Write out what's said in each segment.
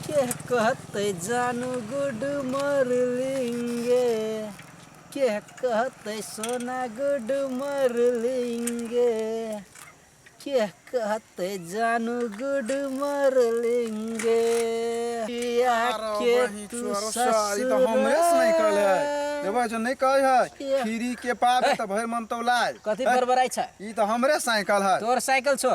के कहते जानू गुड मरलिंगे के कहते सोना गुड मरलिंगे के कहते जानू गुड मरलिंगे पिया के तू ई तो हमरे से नहीं कहले है ससुर देवा जो नहीं कहे है खीरी के पाप है तो भय मन तो लाज कथी बरबराइ छ ई तो हमरे साइकिल है तोर साइकिल छो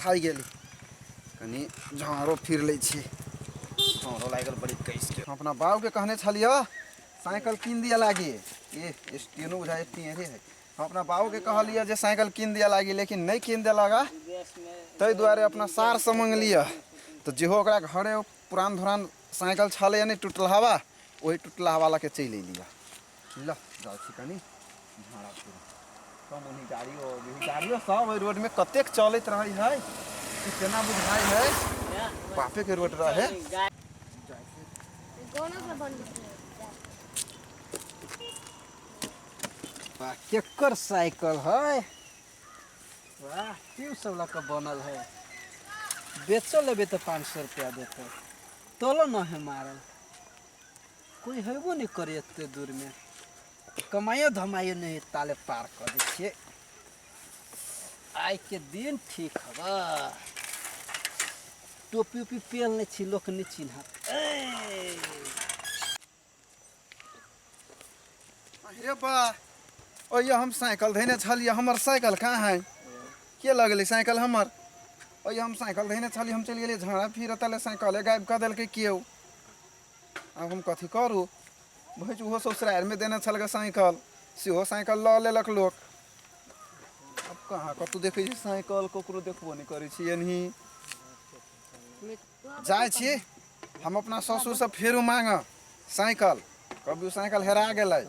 थाकि गेली कनि झाँरो फिर लै छी झाँरो लागि गेल बड़ी कैसके हम अपना बाबूके कहने छलियै साइकिल कीन दिअ लागी ए स्टेनो बुझा टेढ़े है हम अपना बाबूके कहलियै जे साइकिल कीन दिअ लागी लेकिन नहि कीन देलक आ ताहि दुआरे अपना सारसँ मङ्गलियै तऽ जेहो ओकरा घरे पुरान धुरान साइकिल छलैए नहि टुटलहवा ओहि टुटलहवा लऽ कऽ चलि अयलियै ल जाउ छी कनी झाड़ा फिर कम उन्हीं गाड़ियो अभी गाड़ियो सब ओहि रोड में कतेक चलैत रहै है कि केना बुझाइ है बापे के रोड रहे वाह केकर साइकिल है वाह ट्यूब सब लग के बनल है बेचो लेबे तो पाँच सौ रुपया देते तोलो न है मारल कोई हेबो नहीं करे एते दूर में कमाइयो धमाइयो नहीं है, ताले पार कर दै छियै आइ के दिन ठीक हब टोपी उपी पेल नहीं छी लोक नहीं चिन्हत ऐ, अरे बा ओये हम साइकिल धैने छलिए हमर साइकिल कहाँ है के लगले साइकिल हमर ओये हम साइकिल धैने छलिए हम चलि गेलिए झाड़ा फिर तले साइकिले गायब कऽ देलकै केओ आब हम कथी करू भैंस ओहो ससुरारिमे देने छलकै साइकिल सेहो साइकिल लऽ लेलक लोक आब कहाँ कतहु देखै छी साइकिल ककरो देखबो नहि करै छी एनही जाइ छी हम अपना ससुरसँ फेरो मांगऽ साइकिल कभी साइकिल हेरा गेलै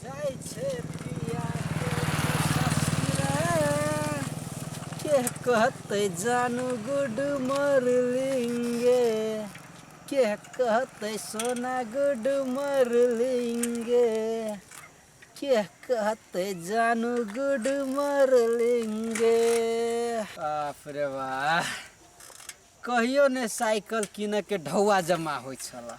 जाइ छै पिया के कहते जानू गुड मरलिंगे के कहते सोना गुड मरलिंगे के कहते जानू गुड मरलिंगे बाप रे वाह कहियो ने साइकिल किने के ढौआ जमा होइ छला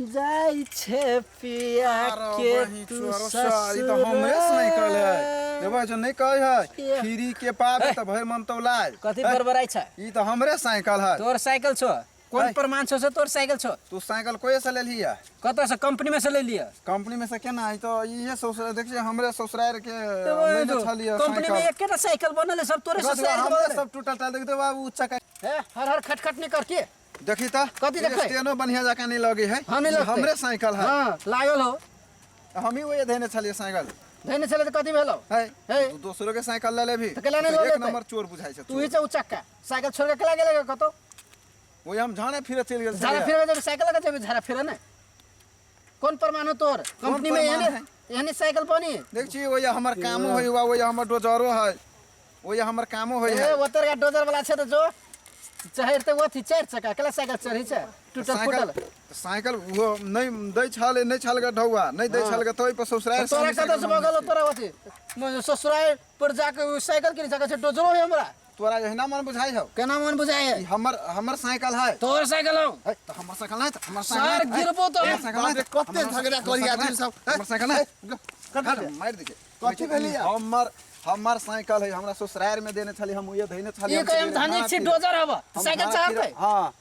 जाई छे पिया अरे के बहिन तू चोरो सर, ई ससुर तो हमरे से नहीं कहले है देवा जो नहीं कहे है ये। खीरी के पाप तो भर मन तो लाए कथी है, बरबराई छ ई तो हमरे साइकिल है तोर साइकिल छो कोन है। प्रमाण छो से तोर साइकिल छो तू साइकिल कोई से ले लिया कत से कंपनी में से ले लिया कंपनी में से केना है तो ये ससुर देखिए हमरे ससुराल के लेने छलिए कंपनी में साइकिल एक केटा साइकिल बनल है, सब तोरे से रख लो, साइकिल हमरे बनल सब टूटल टाल देख दे बाबू चक्का है। ए, हर हर खटखट नहीं करके देखी त कथी देखबै? स्टेनो बढ़िया जका नहीं लगे है हाँ, नहीं लगतै। हमरे साइकिल है हाँ लागल हो हम ही वही देने छलिए साइकिल धैने छलै तऽ कथी भेलौ है है। तू दोसरो के साइकिल ले लेबी तऽ केला नहि लऽ एक लेतै? नंबर चोर बुझाई छै तू ही चौ चक्का साइकिल छोड़ के केला गेलै कतौ वही हम झाने फिरे चल गेल झाड़ा छलिए। फिरबे जेबै साइकिल लऽ कऽ जेबै झाड़ा फिरऽ ने कौन प्रमाण हो तोर कंपनी में प्रमाण एहने एहने साइकिल बनी देख छी ओया हमर कामो होय हुआ ओया हमर डोजरो है ओया हमर कामो होय ए है ओतर का डोजर वाला छे तो जो चहर ते ओथी चार चक्का कला साइकिल चढ़ी छे टूटल फूटल साइकिल साइकिल वो नहीं दै छल नहीं छल ग ढौआ नहीं दै छल ग तोय पर ससुराल तोरा कदर से बगल तोरा ओथी ससुराल पर जाके उ साइकिल किन सके छे डोजरो है हमरा तोरा एहिना मन बुझाइ हौ केना मन बुझाइ है हमर हमर साइकिल है तोहर साइकिल हौ है त हमर साइकिल है त हमर साइकिल सर गिरबो तो साइकिल है कते झगड़ा करी आदमी सब हमर साइकिल है कट मार दे कथि भेली हमर हमर साइकिल है हमरा ससुराल में देने छली हम उहे धइने छली ई कहे हम धानी छी डोजर हवा साइकिल चाहत है हां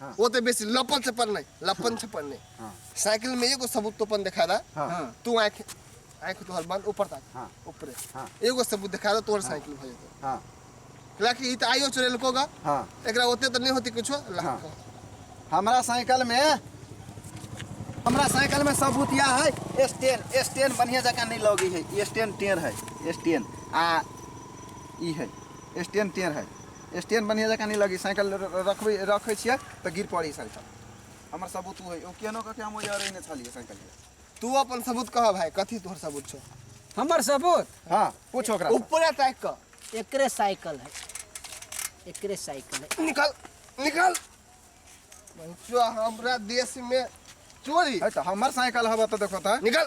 हाँ। वो तो बेसी लपन से पढ़ने लपन से पढ़ने हाँ। साइकिल में एगो सबूत तो अपन दिखा दा हाँ। हाँ। तू आंख आंख तोहर बंद ऊपर तक हाँ। ऊपरे हाँ। एगो सबूत दिखा दा तोहर साइकिल भ जेतो हाँ लाकि ई त आइयो चोरे लकोगा हाँ एकरा ओते त नहीं होती कुछो ला हाँ। हमरा साइकिल में हमरा साइकिल में सबूत यह है स्टेन स्टेन बढ़िया जगह नहीं लगी है स्टेन टेर है स्टेन आ ई है स्टेन टेर है स्टैंड बढ़िया जकाँ नहीं लगी साइकिल रखबै रखै छियै तऽ गिर पड़ी साइकिल हमर सबूत ओ ओ केनो कऽ के हम ओहि अरे ने छलियै साइकिल तू अपन सबूत कह भाई कथी तोहर सबूत छौ हमर सबूत हाँ पूछ ओकरा से। ऊपरे ताकि कऽ एकरे साइकिल है एकरे साइकिल है निकल निकल जो हमरा देश में चोरी है तऽ हमर साइकिल हवा तऽ देखो तऽ निकल